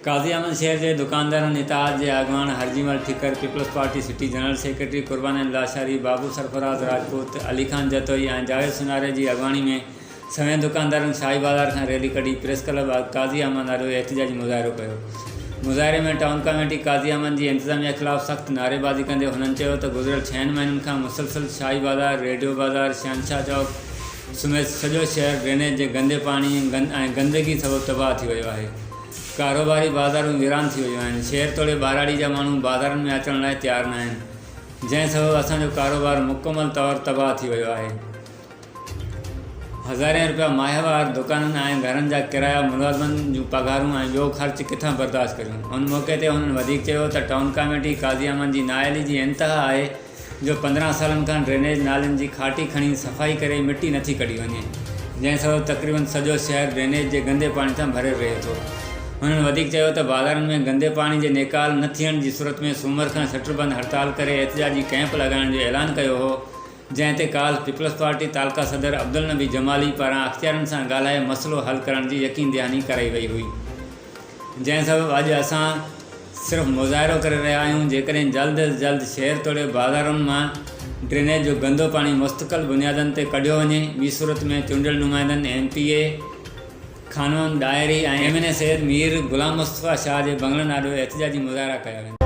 قاضي احمد شهر جي دڪاندارن اتحاد جي اڳواڻ Harjimal Thakkar, peoples party city general secretary Qurban Ahmed Lashari, Babu Sarfraz Rajput, Ali Khan Jatoi ۽ Javed سوناري جي اڳواڻي ۾ سوين دڪاندارن شاهي بازار کان ريلي ڪڍي پريس ڪلب اڳ قاضي احمد آڏو احتجاجي مظاهرو ڪيو. مظاهري ۾ ٽائون ڪاميٽي قاضي احمد جي انتظاميه خلاف سخت نعريبازي ڪندي هنن چيو ته گذريل ڇهن مهينن کان مسلسل شاهي بازار، ريڊيو بازار، شهنشاهه چوڪ، سميت سڄو شهر ڊرينيج جي گندي پاڻي ۽ گندگي سبب تباهه ٿي ويو آهي، ڪاروباري بازارون ويران ٿي ويون آهن، شهر توڙي ٻهراڙي جا ماڻهو بازارن ۾ اچڻ لاء تيار ناهن، جنهن سبب اسان جو ڪاروبار مڪمل طور تباهه ٿي ويو آهي، هزارين رپيا ماهوار دڪانن ۽ گهرن جا ڪرايا، ملازمن جون پگهارون ۽ ٻيو خرچ ڪٿان برداشت ڪريون، ان موقعي تي هنن وڌيڪ چيو ته ٽائون ڪاميٽي قاضي احمد جي نااهلي جي انتها آهي، جو پندرهن سالن کان ڊرينيج نالين جي کاٽي کڻي صفائي ڪري مٽي نٿي ڪڍي وڃي جنهن سبب تقريبن سڄو شهر ڊرينيج جي گندي پاڻي سان ڀريل رهي ٿو هنن وڌيڪ چيو ته بازارن ۾ گندي پاڻي جي نيڪال نه ٿيڻ جي صورت ۾ سومر کان شٽر بند هڙتال ڪري احتجاجي ڪئمپ لڳائڻ جو اعلان ڪيو هو جنهن تي ڪالهه پيپلز پارٽي تعلقه صدر عبدالنبي جمالي پاران اختيارين سان ڳالهائي مسئلو حل ڪرڻ جي يقين دهاني ڪرائي وئي هئي. جنهن سبب اڄ اسان صرف مظاهرو ڪري رهيا آهيون، جيڪڏهن جلد از جلد شهر توڙي بازارن مان ڊرينيج جو گندو پاڻي مستقل بنيادن تي ڪڍيو وڃي، ٻي صورت ۾ چونڊيل نمائندن M P A Khanwan Dahri ۽ M N A Syed Mir Ghulam Mustafa Shah جي بنگلن آڏو احتجاجي مظاهرا ڪيا ويندا.